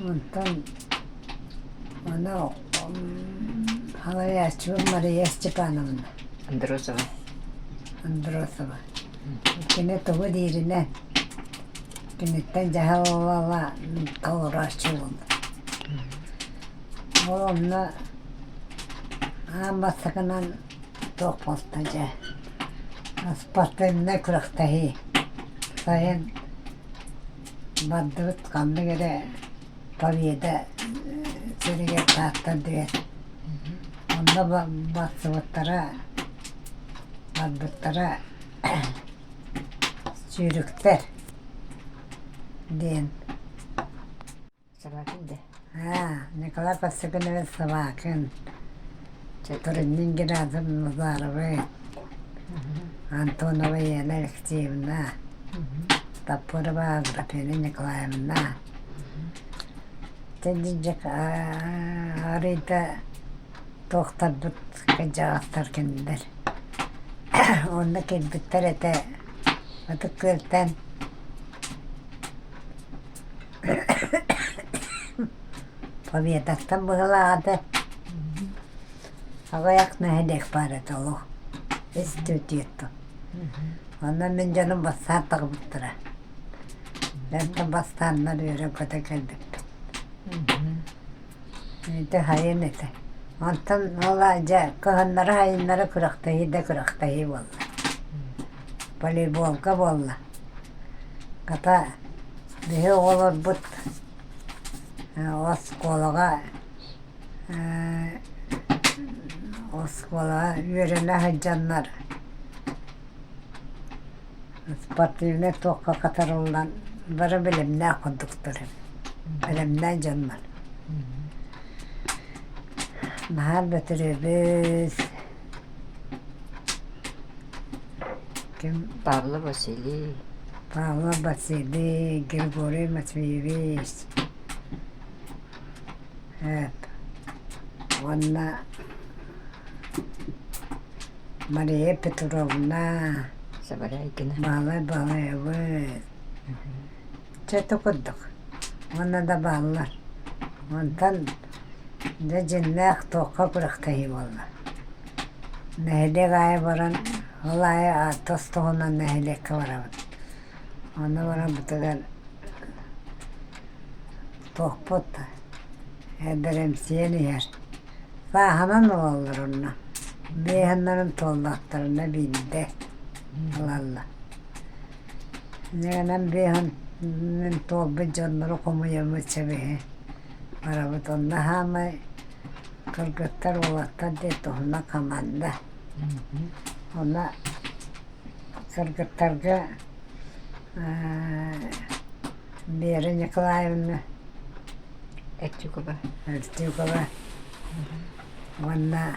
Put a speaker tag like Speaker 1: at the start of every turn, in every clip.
Speaker 1: Онтон аны халайааччыбын Мария Степановна Андросова Андросова Кини тугу дииринэн киниттэн дьаһал ылала толорооччу буолла ол онно аан бастакынан туохпалтан дьэ спортивнай күрэхтэһии сайын Бардыбыт ханнык эрэ победа сиригэр Тааттар диэн. Онно барсыбыттара, барбыттара Сүүрүктэр диэн
Speaker 2: Николай
Speaker 1: Посыгиневич Собакин, Турунин Геннадьевна Назаровы, Антонова Елена Алексеевна, Топорова Аграфена Николаевна, Тэнньиджик арыйда туохтарбыт кырдьаҕастар кинилэр онно кэлбиттэр этэ ытык күөлтэн Поветаттан быһылааҕата аҕыйах наһаа диэки баар этэ ол институту онно мин дьонум бассаап тахпыттара өлтөн бастааннар үөрэ-көтө кэлбиппит ити хайын этэ онтон ол дьэ кыһыннары-сайыннары күрэхтэһии да күрэхтэһии буолла волейболга буолла хата биһи оҕолорбут оскуолаҕа оскуолаҕа үөрэнэ сылдьаннар спортивнай туохха хатарыллан бары бэлэмнээх курдуктар бэлэмнээн дьоннор наһаа бөтөрөбүс ким павло
Speaker 2: василий павло
Speaker 1: василий григорий матвеевич эт уонна мария петровна
Speaker 2: балай балаевы
Speaker 1: Чэ это курдук, уонна да бааллар. Онтон дьэ дьиннээх туохха күрэхтэһии буолла? Нэһилиэк аайы баран, ол аайы ааттас туһунан нэһилиэккэ барабын. Онно барарбытыгар туохпут ээ бэрэмсийэн иһэр. Сааһынан ылаллар онно. Миэхэннэрин туоллахтарына биирдэ ылаллар. Ньиэнэм быыһын туолбут дьоннору хомуйаммыт сэбиһи барабыт. Онно хаамай кыргыттар, уолаттар диэн туһунан хаманна. Онно кыргыттарга Вера Николаевна
Speaker 2: Артюкова
Speaker 1: уонна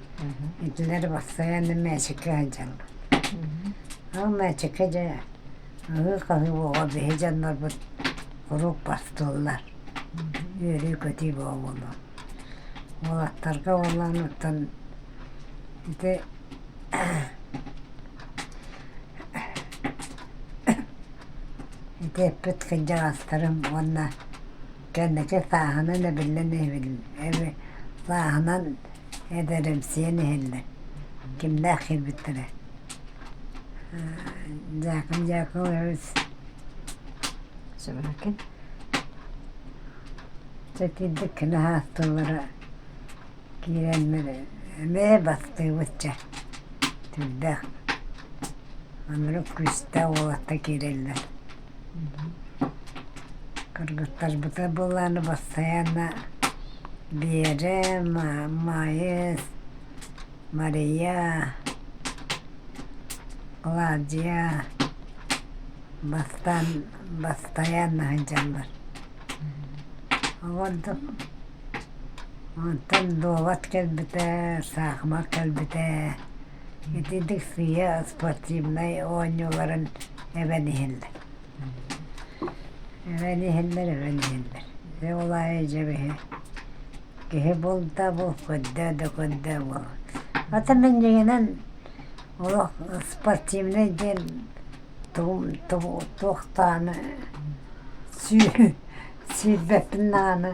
Speaker 1: Итилэри бахсайан да мээчэкэ сылдьан. Ол мээчэкэ дьэ аһыы хоһуйуоҕа биһи дьоннорбут куруук бостуллар. Үөрүү-көтүү буолуо. Уолаттарга уоллааныттан ити ити эппит кырдьаҕастарым уонна кэнники сааһынан эбиллэн сааһынан Эдэрим сиэн иһэллэр, кимнээх киирбиттэрэ Дьаакым Дьаакылович
Speaker 2: Сорокин
Speaker 1: Чэтиндик кини ааттыыллара киирэннэри эмиэ баттыыбычча түрдээх Маннык күүстээх уолаттар киирэллэр Кыргыттарбыта буоллаан бастайаана Биэрэ, Маайыс, Мария, Клавдия бастаан бастайаана сылдьан бар. Ол ордук онтон дуобат кэлбитэ, саахымат кэлбитэ Ити Дыссыйа спортивнай оонньууларын эбэн иһэллэр. Эбэн иһэллэр, эбэн иһэллэр. Дьэ ол аайы дьэбиһи киһи булта бу көрдө да көрдө буолбут. Ата мин дьиҥинэн олох спортивнай диэн тугум тугу туохтааны сүүрбэппин даҕаны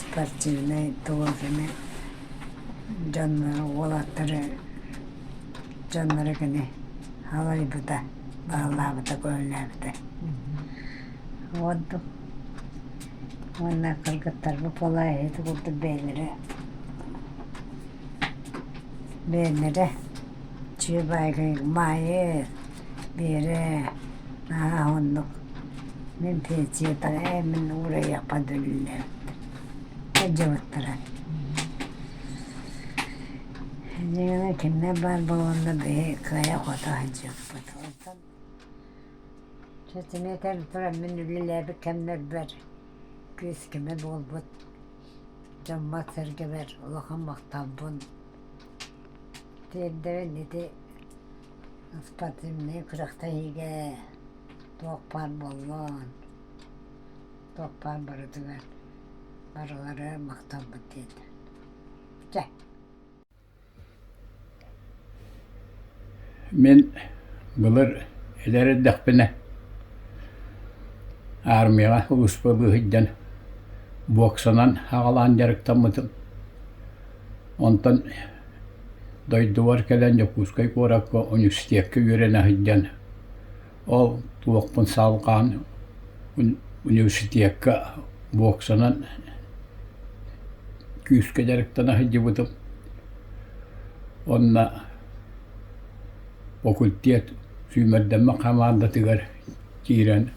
Speaker 1: спортивнай тугу дьонноро уол аттары дьоннорукини алайбыта бааллаабыта көһүллээбитэ ордук уонна кыргыттарбыт буолаиһити курдук бэйэлэрэ бэйэлэрэ чыыбайгы маайы Биэрээ, наһаа уһуннук, мин фельдшердара ээ мин уурайыахпар да үлэлээбиттэр сылдьыбыттара дьиҥинэ кимнэр баар буоллар бэйи кыайа-хото сылдьыбыппыт оттон сантиметр туран мин үлэлээбит кэмнэрбэр кыыс кимэ буолбут дьоммор-сэргэбэр улахан махталбын тиэрдэбин ити Спортивнай күрэхтэһиигэ туох баар буоллун, туох баар барытыгар барылары махталбыт диэн. Чэ.
Speaker 3: Мин былыр эдэр эрдэхпинэ аармыйаҕа улууспа быһыы сылдьан боксанан аҕалаан дьарыктаммытым. Онтон Дойдубар кэлэн Дьокуускай куоракка университекка үөрэнэ сылдьан, ол туохпун салҕаан университекка боксанан күүскэ дьарыктана сылдьыбытым. Уонна факультет сүүмэрдэммит хамаандатыгар киирэн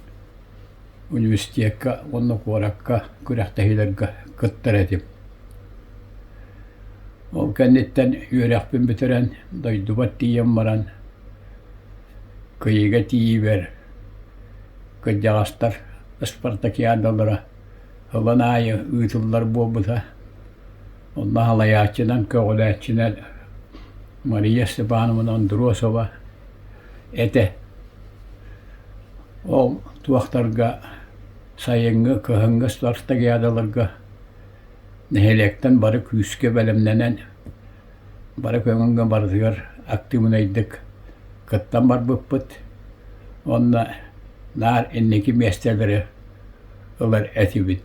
Speaker 3: университекка уонна куоракка күрэхтэһиилэргэ кыттар этим. Ол кэнниттэн үөрэхпин бүтэрэн дойдубар тиийэн баран кыйыга тиийибэр кырдьаҕастар спартакиадалара ылан аайы ыытыллар буолбута. Онно салайааччынан, көҕүлээччинэн Мария Степановна Андросова этэ. Ол туохтарга сайыҥҥы, кыһыҥҥы стратегиадаларга нэһилиэктэн бары күүскэ бэлэмнэнэн бары көҥүлгэ барытыгар актыыбынайдык кыттан барбыппыт уонна наар инники миэстэлэри ылар этибит.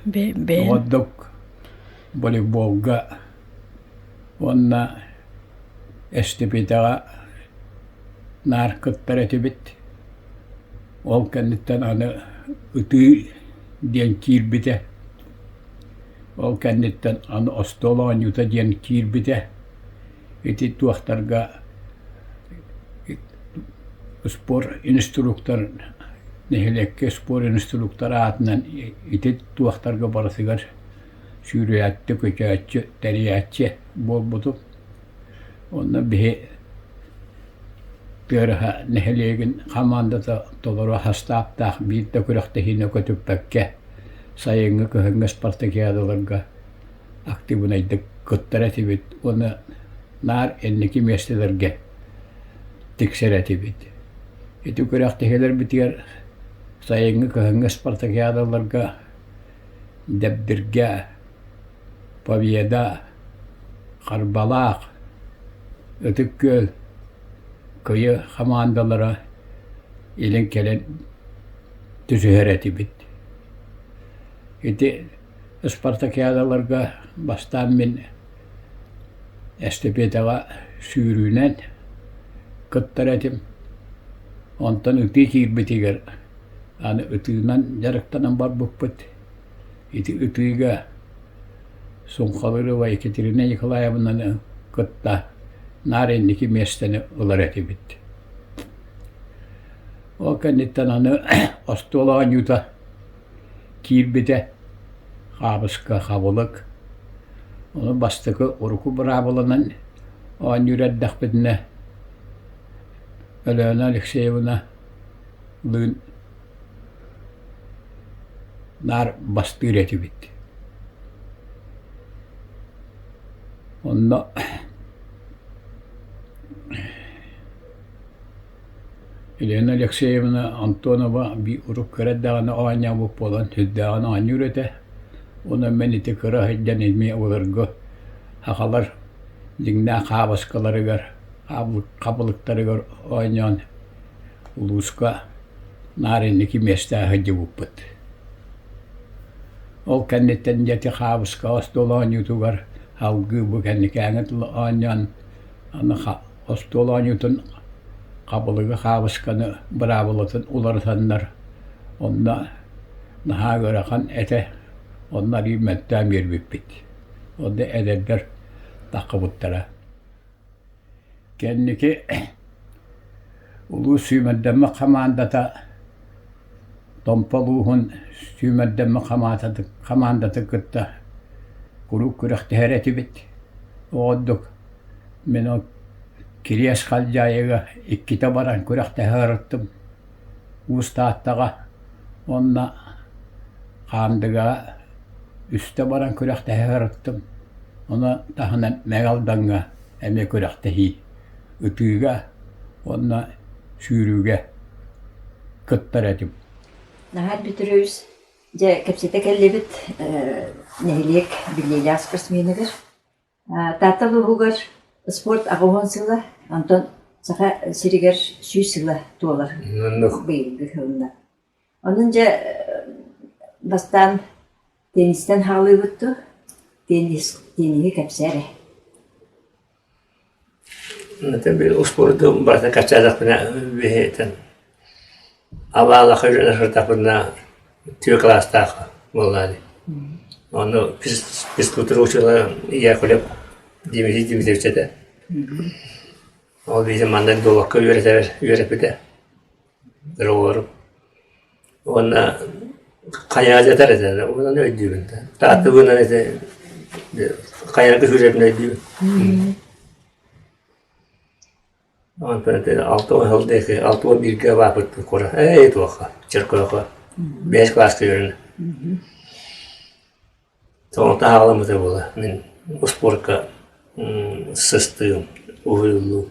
Speaker 3: Бэйэм Оҕо дог волейболга Уонна эстибитэҕэ наар кыттар этибит, ол кэнниттэн аны ытыы диэн киирбитэ, ол кэнниттэн аны остуол оонньуута диэн киирбитэ. Ити туохтарга спорт инструктор, нэһилиэккэ спорт инструктора аатынан ити туохтарга барытыгар сүүрүлээччи, көчөөччү, тэрийээччи буолбутум. Онно биһи Тыараһа нэһилиэгин хамаандата толору састааптаах биирдэ күрэхтэһиини көтүппэккэ сайыҥҥы, кыһыҥҥы спартакиадаларга актыыбынайдык кыттар этибит уонна наар инники миэстэлэргэ тиксэр этибит. Ити күрэхтэһиилэрбитигэр сайыҥҥы, кыһыҥҥы спартакиадаларга Дэбдиргэ, Победа, Харбалаах, Ытык Күөл кыйы хамаандалара илин кэлэн түсүһэр этибит. Ити Спартакиадаларга бастаан мин Эстэпиэтэҕэ сүүрүүнэн кыттар этим, онтон ытыы киирбитигэр аны ытыынан дьарыктанан барбыппыт. Ити ытыыга Сунхалырова Екатерина Николаевнаны кытта наар инники миэстэни ылар этибит. Ол кэнниттэн аны остуол оонньуута киирбитэ хаабыска хабылык ону бастакы урукку быраабыланан оонньуур эрдэхпитинэ Өлөөнө Алексеевна лыын наар бастыыр этибит онно Елена Алексеевна Антонова би урут кыра эрдэҕинэ оонньообут буолан сүрдээҕин оонньуур этэ. Онон мин ити кыра сылдьан эмиэ былыргы сахалар дьиҥнээх хаабыскаларыгар, хабылыктарыгар оонньоон улууска наар инники миэстэҕэ сылдьыбыппыт. Ол кэнниттэн дьэ ити хаабыскаҕа остуол оонньуутугар салгыы бу кэнникээҥи тылы оонньоон аны остуол оонньуутун хабылыгы хаабысканы быраабылатын уларытаннар онно наһаа ыарахан этэ онно арыый мөлтөөн биэрбиппит онно эдэрдэр таххыбыттара кэнники улуу сүүмэрдэммит хамаандата Томпо улууһун сүүмэрдэммит хамаандатын кытта куруук күрэхтэһэр этибит. Ол ордук мин ол Кириэс Халдьаайыга иккитэ баран күрэхтэһэ олордум Уус Тааттаҕа уонна Хаандыгаҕа үстэ баран күрэхтэһэ олордум. Ону таһынан Мэҥэ Алдаҥҥа эмиэ күрэхтэһии. ытыыга уонна сүүрүүгэ кыттар этим.
Speaker 2: Наһаа Петрович, дьэ кэпсэтэ кэллибит нэһилиэк биллиилээх спортсменыгар. Таатта улууһугар спорт аҕыһын сыла Антон Саха сиригэр сүүс сыла туолар быйылгы сылынан. Онон дьэ бастаан теннистэн хаалыыбыт дуо, теннис тенниһи кэпсээ эрэ
Speaker 4: Атын били успуорду барыта каччаатахпына биһиэтэн абаалахха үөрэнэ сырдаппытына үтүө кылаастаах буолла ини ону физкультураучуйлар Яковлев Дмитрий Дмитриевич этэ ол биирдэ манна дуолакка үөрэтэрэр үөрэппитэ Доҕорум уонна хайаадьатар этэ да онон өйдүүбүн да Таатыбынан ити хайарга сүүрэрин өйдүүбүн онтон ити алта уон сыл диэки алта уон бииргэ улааппыппыт кура ээ туохха чөркөөххө бэс кылааска үөрэнэ тоҕонто ааҕаламмыта буолла мин успуорка сыстыым уһуйуллуум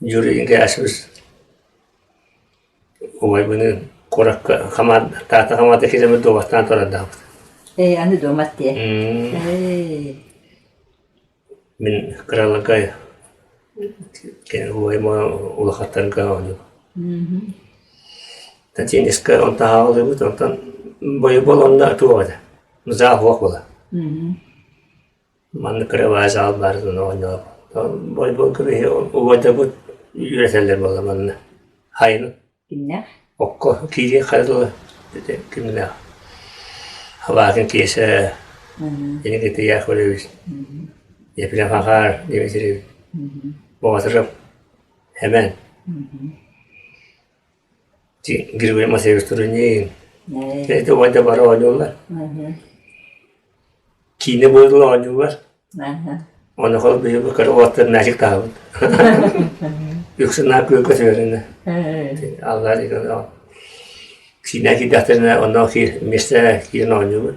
Speaker 4: Юрий Гасюс убайбыныын куоракка хамаан Таата хамаанда килэммит дуобаттаан турардаахпыт Ээ аны дуомат
Speaker 2: диэ Мм Ээ
Speaker 4: Мин кыраларга убайым улахаттарга оонньуубун мм Татьяниска онтон ааҕыллыбыт онтон бойобуол онно туох этэ заа-уох буолар мм Манна кырабаай саал баарын оонньоотон бойбол күрэһи убайдарбыт үөрэтэллэр буолла манна. Хайын? Кимнээх?
Speaker 2: Окко
Speaker 4: киириэххэ дылы кимнээх. Абаакын Киэсэ, Иникитийээх Валерьевич, Епрем Захар Дмитриевич, Боотуров Эмэн. Григорий Матвеевич Рунейын ити уонча бары оонньууллар. Киинэ быһыытынан оонньууллар. Онуоха биһиги кыра уолаттар мээчик таһабыт. Үксүн аан күөлгэ сүүрэнэ. Аллар киинэ киирдэхтэринэ онно миэстэ киирэн оонньуубут.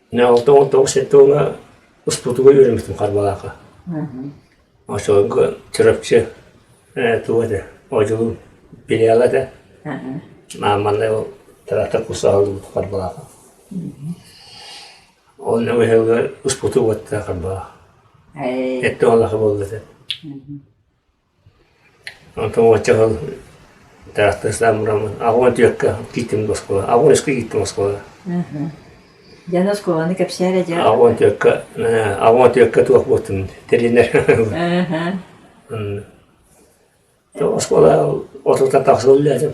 Speaker 2: Дьэ
Speaker 4: алтан уонна тоҕус сэттэ уона успуутугар үөрэммитим Харбалаахха. Оччолорго Чурапчы э, тула этэ, Одьулуун филиала этэ. Маамманнай ол трактор курсаалыбыт Харбалаахха. Ол нөҥүһүгэр успууту уотта Харбалаах. Эттэ уонлаха буолла этэ. Онтон уонча сыл тыраахтар саамбыраммын аҕа уончуйакка кииттим оскуола, аҕа уончуска кииттим оскуола.
Speaker 2: Дьэн оскуоланы кэпсээ эрэ дьэ. Аҕа уончуйакка
Speaker 4: аҕа уончуйакка туох буолтум тренер оскуола отутан тахсыбын лээдим.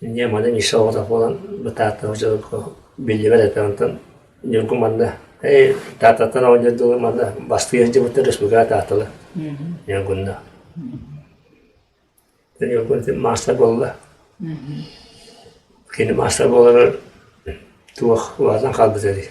Speaker 4: Ийэм аны Миша оҕотох буолан бытаатынах дьылга биллибэт этэ, онтон Ньургу манна «Эй, Таататтан оонньуур дылы манна бастыы сылдьыбыттар республикаҕа Таатталар» Ньургуна. Ньургун итин маастар буолла. Кини маастар буоларыгар туох улаатан хаалбыт этэй?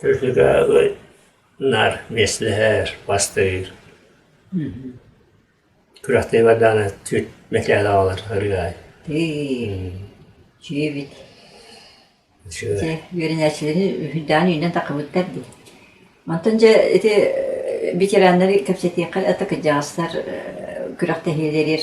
Speaker 4: Түркитэ ый наар миэстэлэһэр, бастыыр. Күрэхтии бардаҕына түөрт мэтээл аҕалар ырыаай
Speaker 2: Чиэбит Чэ үөрэнээччилэри уһуйдаҕын үүнэн таххыбыттар дии. Мантан дьэ ити ветераннары кэпсэтиэххэ, ата кырдьаҕастар күрэхтэһиилэригэр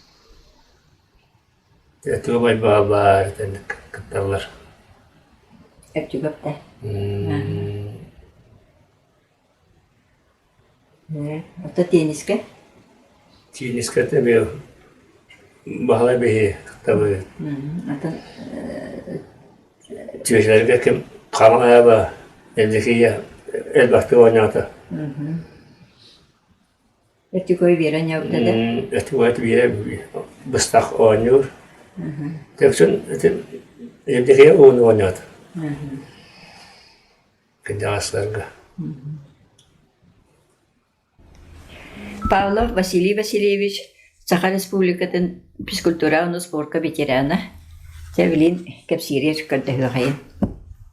Speaker 4: Тыабай баһа-баар итинник кытталлар.
Speaker 2: Өтүгүп да. Ото теннискэ? Теннискэ
Speaker 4: эмиэ Баһылай биһи кыттабыт.
Speaker 2: Атын
Speaker 4: чүөчилэргэ ким хараҥа айаба Эдьикия элбэхтик оонньоото.
Speaker 2: Өтүкөй Вера Ньаута да Өтүкөй Вера
Speaker 4: быстах оонньуур Дьөксүн Евдокия ууну оонньоот кырдьаҕастарга
Speaker 2: Павлов Василий Васильевич Саха Республикатын физкультура уонна спорка ветерана Тэбилин кэпсииригэр көрдөһүөхэйин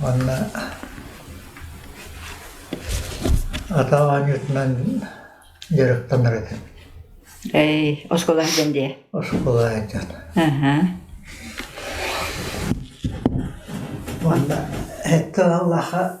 Speaker 5: Уонна ата оонньуутунан дьарыктанар этим. Эй,
Speaker 2: оскуола сылдьан диэ? Оскуола сылдьан.
Speaker 5: Уонна эттэ ыллаха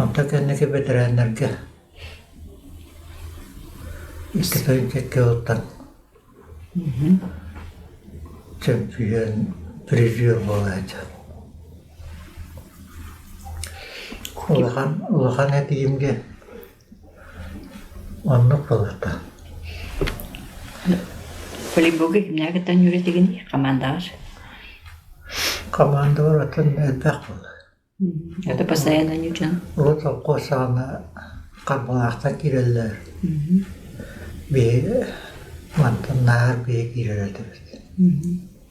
Speaker 5: Онто кэнники бэтэрээннэргэ икки тыһыынчакка ылсан чөмпүйүөн призер буолааччы. Улахан, улахан этиимгэ Оннук буоларда
Speaker 2: Волейболга кимнээх кыттан үөрэтигин хамаандаҕар?
Speaker 5: Хамаандабар оттон элбэх буолла. Это
Speaker 2: постоянно не дьон. Урут сопхуос
Speaker 5: саҕана Харбалаахтар киирэллэр. Биһи мантан наар биһи киирэр этибит.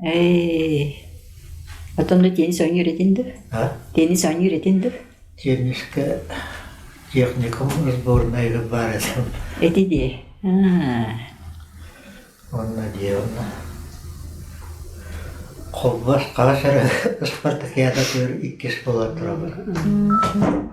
Speaker 5: Эээ
Speaker 2: отонно теннис оонньуур этин дуо? А? Теннис
Speaker 5: оонньуур этин
Speaker 2: дуо? Теннискэ
Speaker 5: техникум сборнайга баар этим. Эти дии. Аа. Онно дии онно. Холбос хаас эрэ спартакиадатыыр иккис буола турабын.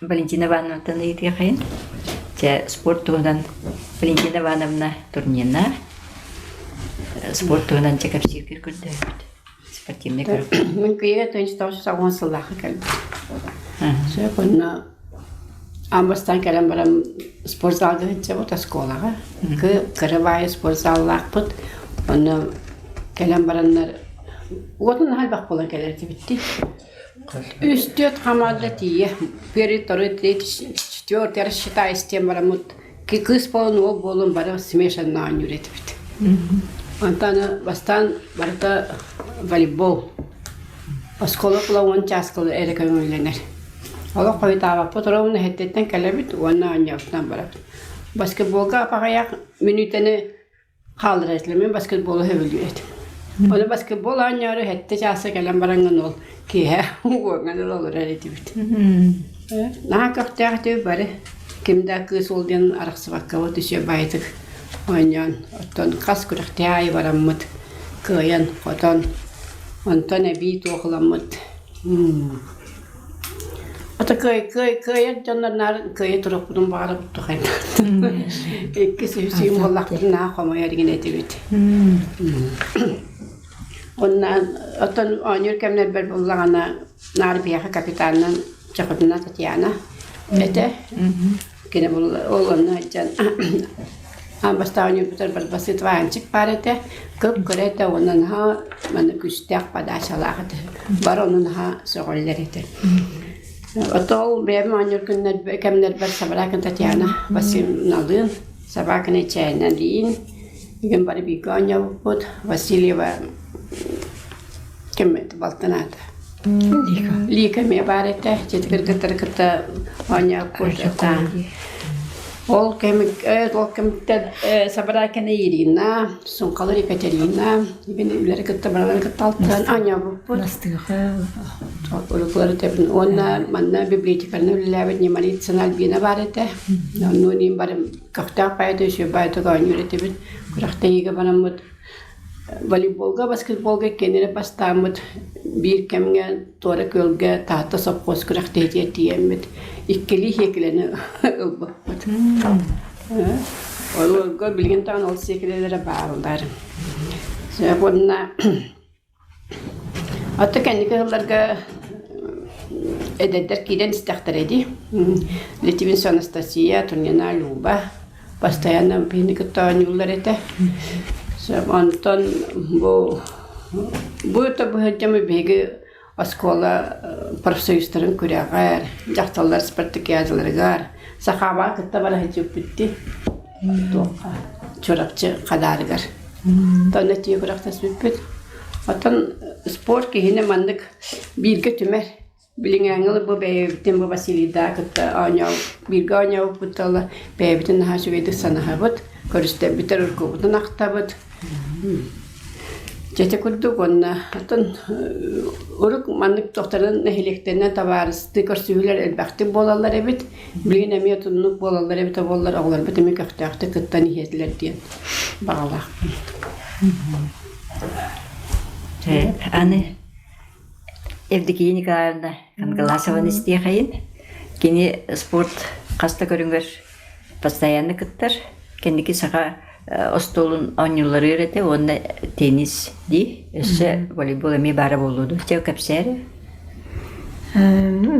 Speaker 2: Валентина Ивановнаттан ыйытыаххын. Чэ, спорт туһунан Валентина Ивановна турнирнаах. Спорт туһунан дьэ кэпсииргин көрдөөбүт. Спортивный кораб. Мин күйе тончтоғыш
Speaker 6: оҕон сыллаахы кэлбит. Сөп онно ам бастан кэлэн баран спортзалга сылдьабыт оскуолаҕа. Ку кырыбаайы спортзаллаахпыт. Онно кэлэн бараннар уотун наһаа бах буолан кэлэрти битти. Үс түөрт хамаанда тиийэ үөрүү торуу третий четвертый раз считаю с тем бараммыт кыыс буолан уол буолан бары смешанно оонньуур этибит онтон аны бастаан барыта волейбол оскуола була уон чааскалыы эрэ көҥүллэнэр олох хойутаабаппыт оруобуна эһэттэттэн кэлэбит уонна оонньообутунан барабыт баскетболга апаҕайах мүнүүтэни хаалларыаччылар баскетболу сөбүлүөт ону баскетбол оонньоору сэттэ чааса кэлэн бараҥҥын ол киэһэ уҥуоҥҥа дылы олорор этибит наһаа көхтөөх этибит бары ким да кыыс уол диэн арахсыбаккабыт үсүө баайытык оонньоон оттон хас күрэхтэһэ аайы бараммыт кыайан хотон онтон эбии туох ыламмыт Хата кыай кыай кыайар дьоннор наар кыайа турукпутун баҕара туттухайдаахтар. Иккис үһүс буоллахпытына наа хомойор игин этибит. Онно оттон оонньуур кэмнэрбэр буллаҕына наар биһиэхэ капитаннан Чеховна Татьяна этэ. Кини ол онно дьон бастаан ойуппутар басытваанчик баар этэ, кып кыра этэ уонна наһаа манна күүстээх подаачалаах этэ. Бар ону наһаа сөҕөллөр этэ. Отол бэйэм оонньуур күннэр кэмнэрбэр Собракин Татьяна Васильевналыын, Собакины чээннэлиин, бүгүн бары бииргэ оонньообуппут. Васильева Ким это балтынаата? Мин Лика. Лика эмиэ баар этэ. Дьиэтигэр кытары кытта оонньоох куотуохтаан. Ол кэмик ол кэмиттэн собраа кэне Ирина, Суҥхалар Екатерина, ибин үлэри кытта бараларын кытта алтан анньобуппут. Настыаха. Урукулары тэбин уонна манна библиотекарна үлэлээбит Немалицына Альбина бар этэ. Оннуунин барым көхтөөх байда үсү байда оонньуур этибит. Күрөхтэйиге бараммыт волейболга баскетболга иккиэн эрэ бастааммыт биир кэмҥэ туора күөлгэ таатта сопхуос күрэхтэһиитигэр тиийэммит иккилии сиэкилэни ылбыппыт олорго билигин даҕаны ол сиэкилэлэрэ бааллар уонна Аты кэнники сылларга эдэрдэр киирэн истэхтэрэ дии Литвинцева Анастасия, Турнина Люба постоянно биһини кытта оонньууллар этэ онтон бу бу это дьомо биһиги оскуола профсоюзтарын күрэҕэр дьахталлар спартакиадаларыгар сахаабаҕа кытта бара сылдьыбыппыт дии туохха Чурапчы Хадаарыгар. Онно тиийэ бырахтаспыппыт. Оттон спорт киһини маннык бииргэ түмэр. Билиҥээҥи олор бу бэйэбитин бу Василийдаа кытта оонньоу бииргэ оонньообуппут да олор бэйэбитин наһаа үчүгэйдик санаһабыт, көрүстэрбитин уруккубутун ахтабыт. Дьэти курдук уонна оттон э, урут маннык тохтарынан нэһилиэктэринэн табаарыстыы көрсүһүүлэр элбэхтик буолаллар эбит. Билигин эмиэ отуннук буолаллар эбитэ буоллар, оҕолорбут эмиэ көхтөөхтүк кыттан иһиэтилэр диэн баҕалаахпын.
Speaker 2: Э, аны Евдокия Николаевна Кангаласованы истиэхэйин. Кини спорт хаста көрүҥэр постоянно кыттар. Кэнники саха остуолун оонньуулларыыр этэ уонна теннис дии өссө волейбол эмиэ баара буолуо дуо чэ кэпсээн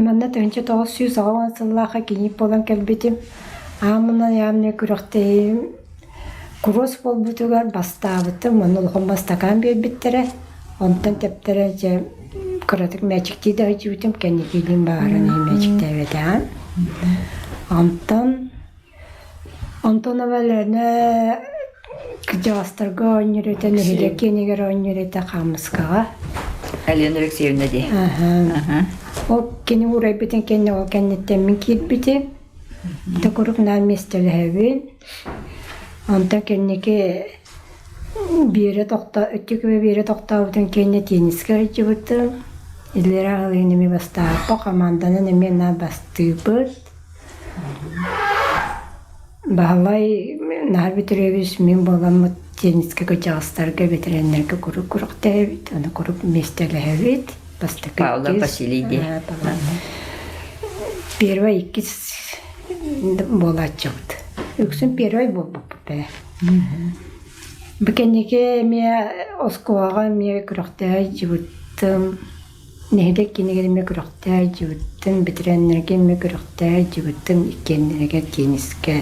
Speaker 7: манна тыһыынча тоҕус сүүс аҕа уон сыллаахха кийиит буолан кэлбитим ааммынан ааммыйа күрэхтэһиим курос буолбутугар бастаабытым манна улахан бастакаан биэрбиттэрэ онтон тэптэрэ дьэ кыратык мээчиктии да сылдьыбытым кэннитиилиин баарын иһин мээчиктээбэтэҕим онтон Антонова Лена кырдьаҕастарга оонньорута, нэһилиэк киинигэр оонньорута, хаамыскаҕа. Алена
Speaker 2: Алексеевна дии. Аһаан.
Speaker 7: Ол кини уурайбытын кэннэ ол кэнниттэн мин киирбитим. Токурук наан миэстэлэһэбин. Онтон кэнники биэрэ тохто өттүкүбэ биэрэ тохтообутун кэннэ теннискэ ыйдьыбытым. Иллираа Галина эмиэ бастааппа, хамаанданан эмиэ наа бастыыбыт. Баһылай Наһаа Бүтүрүөбүс мин буоламмыт теннискэ кырдьаҕастарга, бэтэрээннэргэ куруук күрэхтэһэбит, аны куруук миэстэлэһэбит. Бастакы
Speaker 2: Павла Василий диэн. Ээ, Павла.
Speaker 7: Первай иккис буолааччыбыт. Үксүн первай буолбуппут ээ. Бу кэнники эмиэ оскуолаҕа эмиэ күрэхтэһэ сылдьыбытым. Нэһилиэк иннигэр эмиэ күрэхтэһэ илдьибиттэн бэтэрээннэргин эмиэ күрэхтэһэ илдьибиттэн иккиэннэригэр теннискэ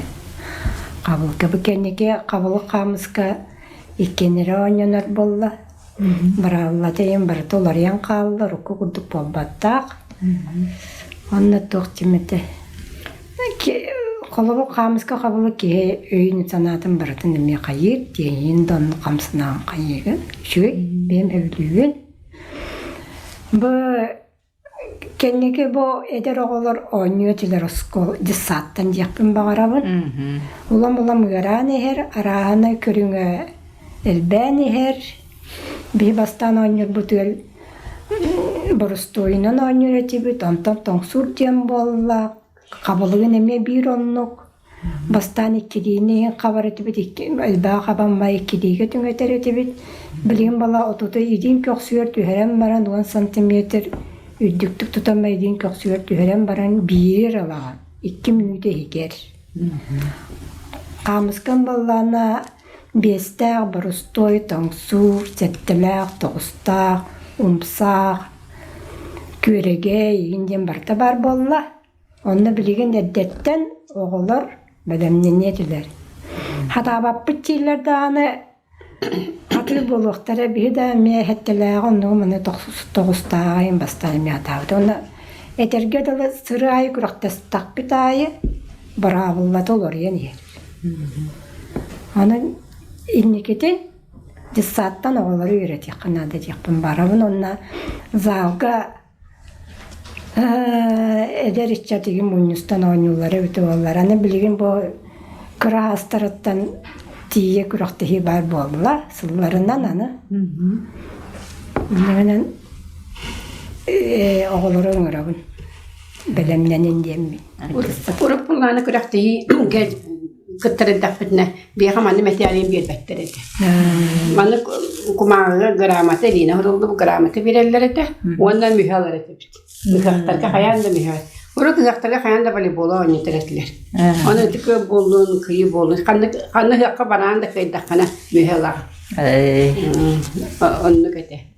Speaker 7: хабылкабыт кэнники хабылык хаамыска иккиэннэрэ оонньонор буолла бырааллата иһин барыта уларыйан хаалла урукку курдук буолбаттаах онно туох тимэтэ холобур хаамыска хабылык киһи өйүн-санаатын барытын эмиэ хайыыр тиэйиин да оннук хамсанаҕын хайыыгын үчүгэй бэйэм өйдүүбүн Бу кэнники бу эдэр оҕолор оонньуу этилэр оскуола детсадтан диэхпин баҕарабын. Улам-улам ыараан иһэр, арааһаны көрүҥэ элбээн иһэр. Биһи бастаан оонньорбут ыал борустуойунан оонньуур этибит, онтон тоҥсуур диэн буолла. Хабылыгын эмиэ биир оннук. Бастаан иккилиини хабар этибит, икки айдаҕа хабамма иккилиигэ түҥэтэр этибит. Билигин бала отута илиин көхсүгэр түһэрэн баран уон сантиметр үрдүктүк тутан ба илиин көхсүгэр түһэрэн баран биир ылаҕын, икки мүнүүтэ иһигэр. Хаамыскам баллаана биэстээх, боростуой, тоҥсуур, сэттэлээх, тоҕустаах, умсаах, күөрэгэй, иһин диэн барыта баар буолла. Онно билигин эрдэттэн оҕолор бэлэмнэниэ этилэр. Хатаабаппыт дииллэр даҕаны, хатыы буолуохтара биһи да эмиэ эһэттэлээҕи оннугу-маны тоҕустааҕын бастаан эмиэ хатаабыт. Уонна этэргэ дылы сыры аайы күрэхтэстэхпит аайы быраабыллата уларыйан иһэр. Аны инникити детсадтан оҕолору үөрэтиэххэ наада диэхпин баҕарабын уонна залга Эдэр ыччат ити мунньустан оонньууллара эбитэ буоллар аны билигин бу кыраһаастарыттан тиийэ күрэхтэһии баар буолла сылларынан аны иннигинэн оҕолору ыҥырабын бэлэмнэнин диэммин уруккуҥ
Speaker 6: ааны күрэхтэһии кыттар эрдэхпитинэ биэха манна мэтээлин биэрбэттэр этэ. Маны кумааҕыга грамота Ирина Хруллова грамота биэрэллэр этэ уонна мүһэ ылар этибит. Ыһахтарга хайаан да мүһэ. Урут ыһахтарга хайаан да волейболу оонньотор этилэр. Ону ытык буоллун, кыйы буоллун, ханна ханна ыһахха бараан да кыайдаххына мүһэ ылаҕын. Оннук этэ.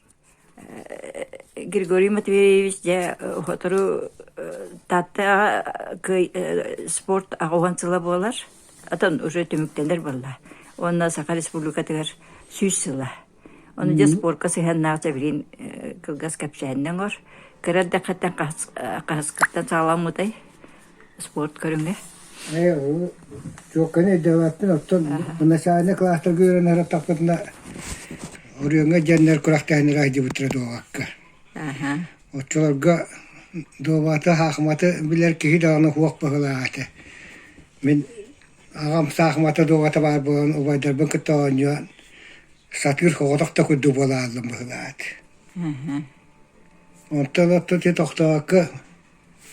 Speaker 2: Григорий Матвеевич дьэ сотору Тааттаҕа спорт аҕыһын сыла буолар. Атон уже түмүктэнэр буолла. Уонна Саха Республикатыгар сүүс сыла. Ону дьэ спорка сыһыаннаах дьэбирин кылгас кэпсээннэн ор. Кырат даккаттан хаскыттан сааламмытай спорт көрүҥҥэ? Ээ,
Speaker 8: чуокканы өйдөөбөппүн, оттон начальнай класстарга үөрэнэ сырыттахпытына, ырыаҥҥа дьэннэр күрэхтэһиннэрэ сылдьыбыттара дуогакка. Оччолорго дуобаты, саахыматы билэр киһи даҕаны суох быһыылаах этэ. Мин аҕам саахымата дуобата баар буолан, убайдарбын кытта оонньоон, сатыыр соҕотох да курдук буолааллым быһыылаах этэ. Онтон оттон тохтообокко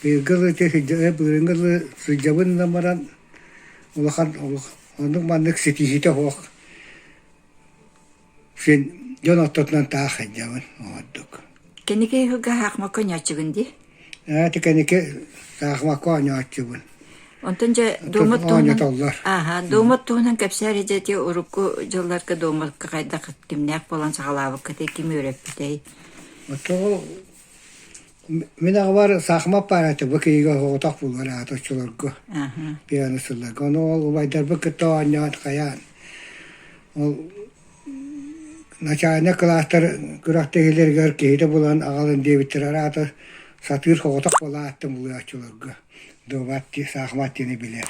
Speaker 8: Ыйга ылыы этэ сылдьа былырыыҥҥы ылыы сылдьабын да баран улахан оннук-маннык ситиһиитэ суох син дьон ортотунан таах сылдьабын ол ордук Кэники ыйга
Speaker 2: хаахмакка оонньооччугун дии? Ээ,
Speaker 8: кэники хаахмакка оонньооччубун. Онтон дьэ
Speaker 2: дуомат туһунан ааха дуомат туһунан кэпсээр дьэти урукку дьылларга дуоматка хайдах кимнээх буолан саҕалаабыккытый ким үөрэппитэй? Оту
Speaker 8: Мин аҕабар саахымат паара этэ бу киһиге соҕотох булуон аата оччолорго пиано сылларга. Ону ол убайдарбын кытта оонньоон хайаан ол начальник кылаастар күрэхтэһиилэригэр киһитэ булан аҕалын диэбиттэр араата сатыыр соҕотох буолааттым булуйааччыларга. Дубат саахымат диэни билэн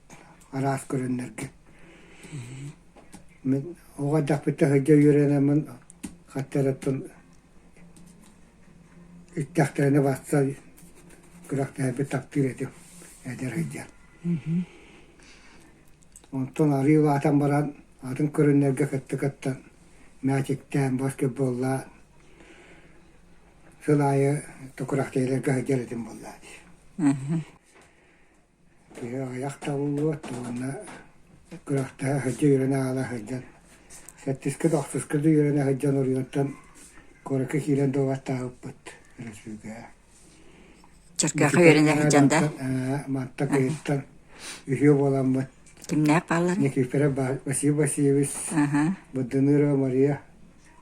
Speaker 8: араас көрүннэргэ. Мин оҕо дьахпыта сылдьа үөрэнэммин хаттараттан иттэхтэринэ батса күрэхтэһэрбит таптыыр этим эдэр сылдьа. Онтон арыы улаатан баран атын көрүннэргэ кытты-кыттан мячиктээн баскетболлаан сыл аайы токурахтайырга сылдьар этим буоллаа дии. Киһи аҕыйах да буолуот уонна күрэхтэһэ сылдьа үөрэнэ аҕала сылдьан сэттискэ да охсуска да үөрэнэ сылдьан уруйуттан куоракка киирэн да убаттаабыппыт өрөспүүбүлүкэҕэ.
Speaker 2: Чаркаха үөрэнэ сылдьан да? Мантан
Speaker 8: кыһыттан үһүө буоламмыт. Кимнээх бааллар?
Speaker 2: Никифоров Василий
Speaker 8: Васильевич, Будданырова Мария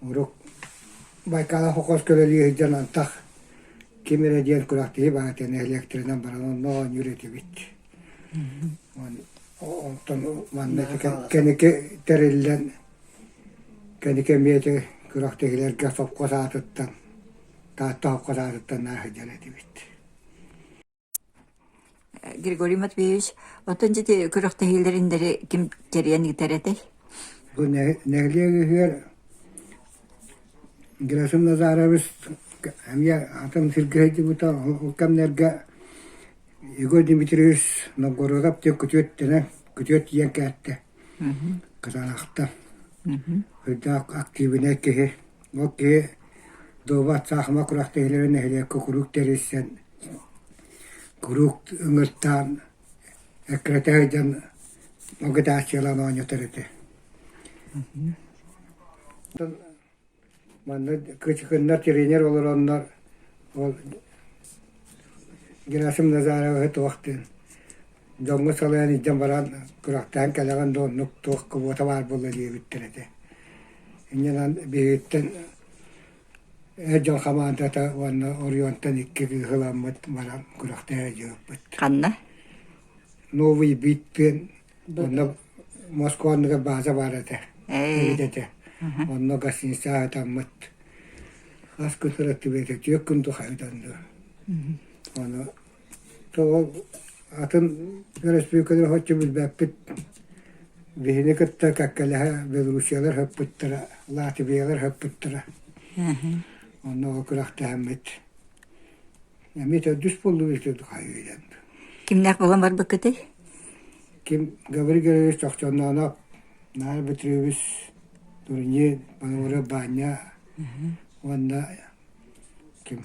Speaker 8: Урук Байкалов хокос көлөлүү сылдьан антах ким эрэ диэн курактиһы баатыа нэһилиэктэринэн баран онно оонньуур этибит. Онтон манна кэнике тэриллэн кэнике эмиэти күрэх сопхуос аатыттан Таатта сопхуос аатыттан наахыйдьан этибит
Speaker 2: Григорий Матвеевич, оттон дьити күрэхтэһиилэриндэри ким тэрийэн ыытар этэй? Бу
Speaker 8: нэһи- нэһилиэк ыһыар Герасим Назарович эмиэ атын сиргэ сылдьыбыта, ол ол кэмнэргэ Егор Дмитриевич Новгородов диэн күтүөт дэнэн күтүөт ийэ кээттэ, Казанахта. Мгм. Сүрдээх активнай киһи. Ол киһи дуобат саахыма курах тиһилэрэ нэһилиэккэ куруук тэрийсэн, куруук ыҥыртаан, эккирэтэ сылдьан агитациялаан оонньотор этэ. Манна Кычыкыннар тренер олороннор ол Герасим Назаровы туохтыын дьоҥҥо салайан илдьэн баран күрэхтээн кэлэҕин да оннук туох квота баар буолла диэбиттэр этэ иннинэн биһиттэн эр дьон хамаандата уонна Орионтан икки кыыһыламмыт баран күрэхтэһэ дьыыппыт. Ханна? Новый бит диэн онно Москваныгар бааза баар этэ. Этэ. Онно гостиница аһатаммыт. Ас кытыра түбэтэ түөк күн тухай ытанды. Оны Того атын өрөспүүбүлүкэлэр соччо билбэппит. Биһини кытта кэккэлэһэ Белоруссиялар сыппыттара, Латвиялар сыппыттара. Онно ол күрэхтэһэммит. Эмиэ төрдүс буоллубут курдук хайыыдан. Кимнээх буолан
Speaker 2: барбыккытый? Ким
Speaker 8: Гаврил Гаврилович Тохчоннооно, Наар Петрович, Турни, Панура Баня уонна ким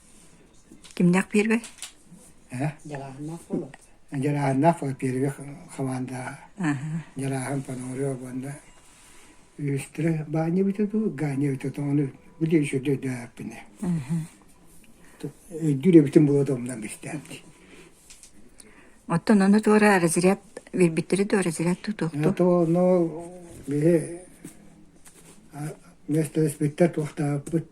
Speaker 2: Кимнээх первый?
Speaker 6: Дьарааһыннаах
Speaker 8: первый хамаандаҕа Дьарааһын Пономарева уонна үөстэрэ Баанньа эбитэ дуу, Ганя эбитэ дуу, ону били үсүрдэ өйдөөбөппүн ээ. Өйдүүр эбитим буолуо умнан истээбит
Speaker 2: Оттон ону туора разряд биэрбиттэри дуу, разряд тутуохтуу? Ону
Speaker 8: били миэстэлэспиттэр туохтаабыт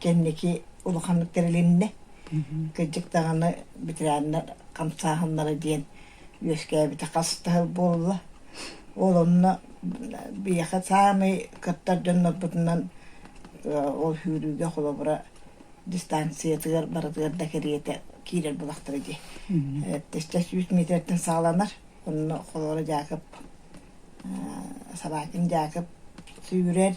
Speaker 9: кэнники улаханнык тэрилиннэ. Кырдьык даҕаны ветераннар хамсааһыннара диэн үөскээбитэ хас да сыл буолла. Ол онно биһиэхэ саамай кыттар дьоннорбутунан ол сүүрүүгэ холобура дистанциятыгар барытыгар да кэриэтэ киирэр булахтара дии. Тэстэ сүүс метртэн саҕаланар. Онно Холоро Дьаакып, Собакин Дьаакып сүүрэр,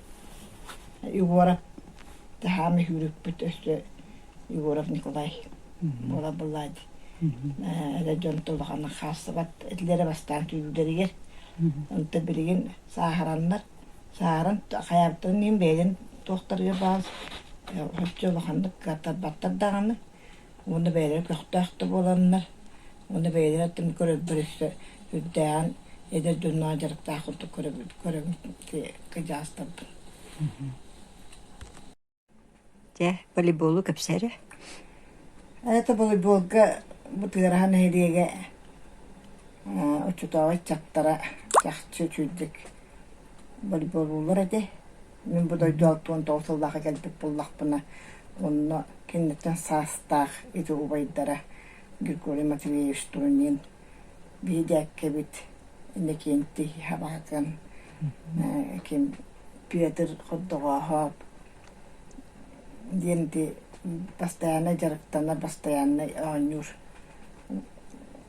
Speaker 9: Егоров таһаам үһүүрүкпүт өссө Егоров Николай буола-буллаат эрэ дьон улаханна хаалсыбат этилэрэ бастаан түүллэригэр онтон билигин сааһыраннар сааһыран хайаабыттарын иһин бэйэлэрин туохтарыгар баҕар соччо улаханнык кыаттарбаттар даҕаны Уонна бэйэлэрэ көхтөөх да буоланнар, уонна бэйэлэрин аттарын көрөллөр өссө үрдээҕин эдэр дьонноох дьарыктаах курдук көрөбүн көрөбүн кыдьаастарбын
Speaker 2: Дьэ, волейболу кэпсэри.
Speaker 9: Это волейболга Бытыыраһа нэһилиэгэ оччотооҕу ыччаттара чахчы үчүгдүк волейболлуулар этэ Мин бу дойду алта уон тоҕус сыллаахы кэлбит буллахпына, онно киниттэн саастаах ити убайдара Григорий Матвеевич Турунин Биһидээккэбит Иннокентий Хабаатын ким Петр Ходдоҕооһоп диэн ити бастайааннай дьарыктанар бастайааннай оонньуур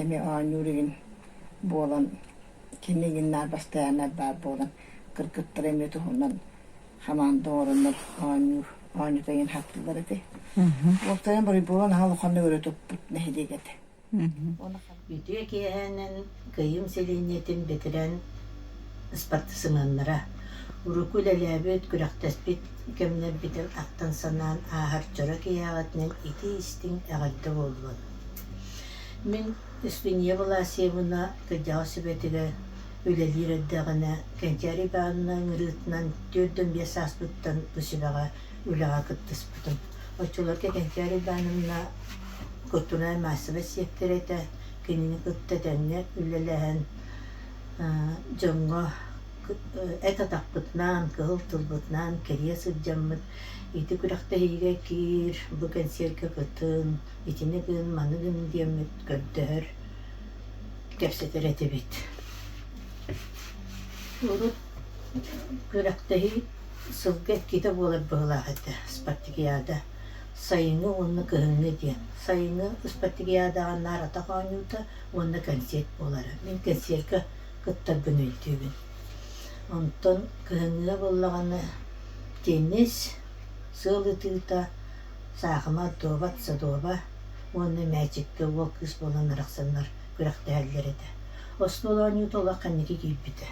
Speaker 9: эмиэ оонньуур игин буолан кини игин наар бастайаннар баар буолан кыргыттар эмиэ туһунан хамаанда оҥороннор оонньуур оонньуута игин хаттылар эти уолтайан буруйбуолан аһал уханна өрө туппут нэһилиэгэтэ
Speaker 10: үтүө киэһэнин кыйым селениетин битирэн спортсменнара урукку үлэлээбит күрэхтэспит кэмнэрбитин аттан санаан ааһар чоро киэҕэтинэн итии истиҥ эҕэрдэ буоллун Мин Свинья Власьевна кырдьаҕас сүбэтигэр үлэлиир эрдэҕинэ Кэнчээри Ивановна ыҥырыытынан түөрт уон биэс сааспыттан бу сүбэҕэ үлэҕэ кыттыспытым. Оччолорго Кэнчээри Ивановна куттанай маассабай сиэктэрэ этэ. Кинини кытта тэҥҥэ үлэлэһэн дьоҥҥо эт атахпытынан, кыһыл тылбытынан кэрийэ сылдьаммыт. Ити күрэхтэһиигэ киир, бу кэнсиэргэ кытын. итини гын маны гын диэммит көрдөһөр кэпсэтэр этибит урут күрэхтэһии сылга иккитэ буолар быһыылаах этэ спартакиада сайыҥҥы уонна кыһыҥҥы диэн сайыҥҥы спартакиадаҕа наар атах оонньуута уонна кэнсиэрт буолара мин кэнсиэркэ кыттарбын өйдүүбүн онтон кыһыҥҥыга буоллаҕына теннис сыал ытыыта саахыма оттуобат содуоба уонна мээчиккэ уол кыыс буолан арахсаннар күрэхтэһэллэр этэ остуол оонньуута улаханньык киирбитэ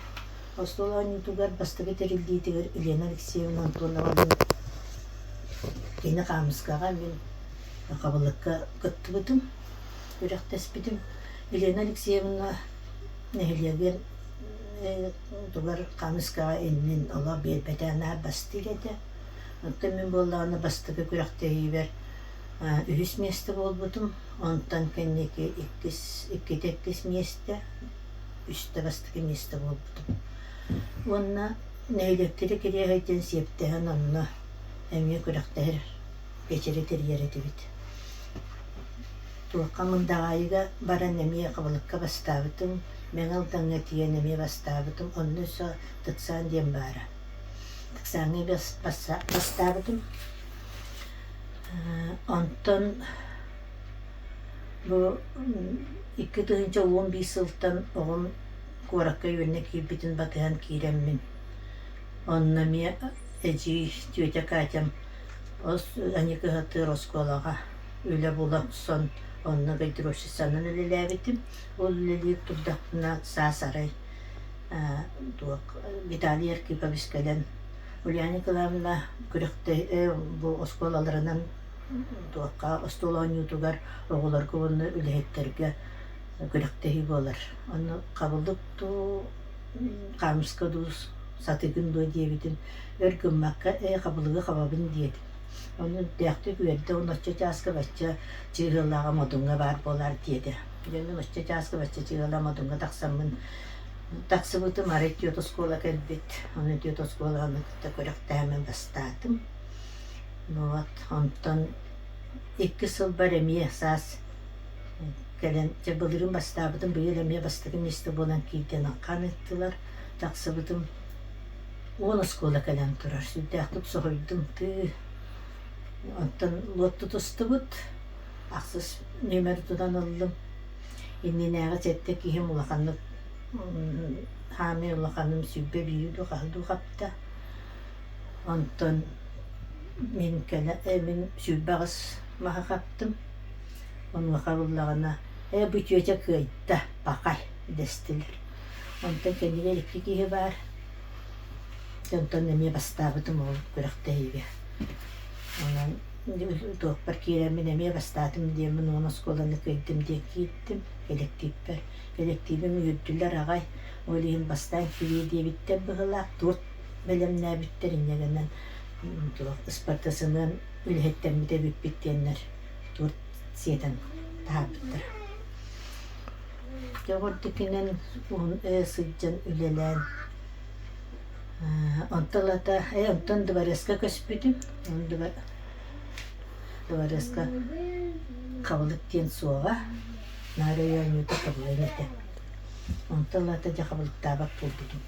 Speaker 10: остуол оонньуутугар бастакы тэриллиитигэр елена алексеевна антонованы кини хаамыскаҕа мин хабылыкка кыттыбытым күрэхтэспитим елена алексеевна нэһилиэгин тугар хаамыскаҕа иннин олох биэрбэтээн наар бастыыр этэ Оттон мин буоллаҕына бастакы күрэхтэһиибэр үһүс миэстэ буолбутум. Онтон кэнники иккис, иккитэ-иккис миэстэ, үстэ бастакы миэстэ буолбутум. Уонна нэһилиэктэрэ кириэһэйдэн сиэптэһэн онно эмиэ күрэхтэһэр кэчэри тэрийэр этибит. Туохха мындаҕаайыга баран эмиэ хабылыкка бастаабытым. Мэҥэ Алдаҥҥа тиийэн эмиэ бастаабытым. Онно өссө Тыксаан диэн баара. Ыксааҥҥа бастаабытым. Онтон бу икки тыһыынча уон биир сылтан оҕом куоракка үөрэнэ киирбитин батыһан киирэммин, онно эмиэ эдьиий тетя Катям ол аны кыһатыыр оскуолаҕа үлэ була охсон онно гайдровщицанан үлэлээбитим. Ол үлэлиир турдахпына саас арай Виталий Аркипович кэлэн Ульяна Николаевна бу оскуолаларынан остуол оонньуутугар оҕолорго уонна үлэһиттэргэ күрэхтэһии буолар. Ону хабылык дуу, хаамыска дуу сатыыгын дуо диэбитин өр гыммакка ээ хабылыгы хабабын диэтим. Ону үрдээхтик үөрдэ уонна оччо чааска бачча чыыһыллааҕа модуҥҥа баар буолаар диэтэ. Дьэ онно оччо чааска бачча чыыһыллааҕа модуҥҥа тахсаммын Тахсыбытым арай түөрт оскуола кэлбит, аны түөрт оскуоланы кытта күрэхтэһэммин бастаатым. Вот онтон икки сылбар эмиэ саас кэлэн дьэ былырыын бастаабытым быйыл эмиэ бастакы миэстэ буолан киирдэн хаан ыыттылар. Тахсыбытым уон оскуола кэлэн турар. Сүрдээхтик соһуйдум тыы. Оттон лот тутустубут, ахсыс нүөмэрэ тутан ыллым. Иннинээҕи сэттэ киһим улаханнык хаамыы улаханым сүлбэ биирэ дуу хаһа дуу хапта. Онтон мин кэлэ э мин сүлбэ аҕыс маһы хаптым. Онуоха буллаҕына ээ бу чүөчэ кыайда бакай дэстилэр. Онтон кэннигэр икки киһи баар. Онтон эмиэ бастаабытым ол күрэхтэһиигэ. Онон туохпар киирэммин эмиэ бастаатым диэммин уон оскуоланы кыайдым диэ киирдим кэлэктииппэр кэлэктиибим үүрдүлэр аҕай ол иһин бастаан кириэ диэбиттэр быһыылаах туох бэлэмнээбиттэр иннигэнэн туох ыспартасыныан үлэһиттэрбит эбиппит диэннэр туох сиэтэн таһаарбыттара дьэ ол иккинэн уһун ээ сылдьан үлэлээн Онтон ылата, э, онтон дворецка көспүтүм. Ол дво- дворецка хабылык диэн суоҕа, нары өй оонньуута хабылыан этэ. Онтон ылата дьэ хабылыктаабат буолбутум.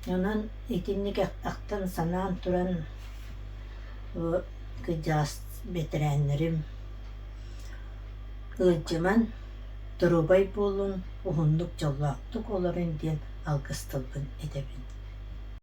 Speaker 10: Онон итинник ах- ахтан, санаан туран бу кырдьаҕас бэтэрээннэрим ыалдьыман, доруобай буолуҥ, уһуннук дьоллоохтук олоруҥ диэн алгыстылбын этэбин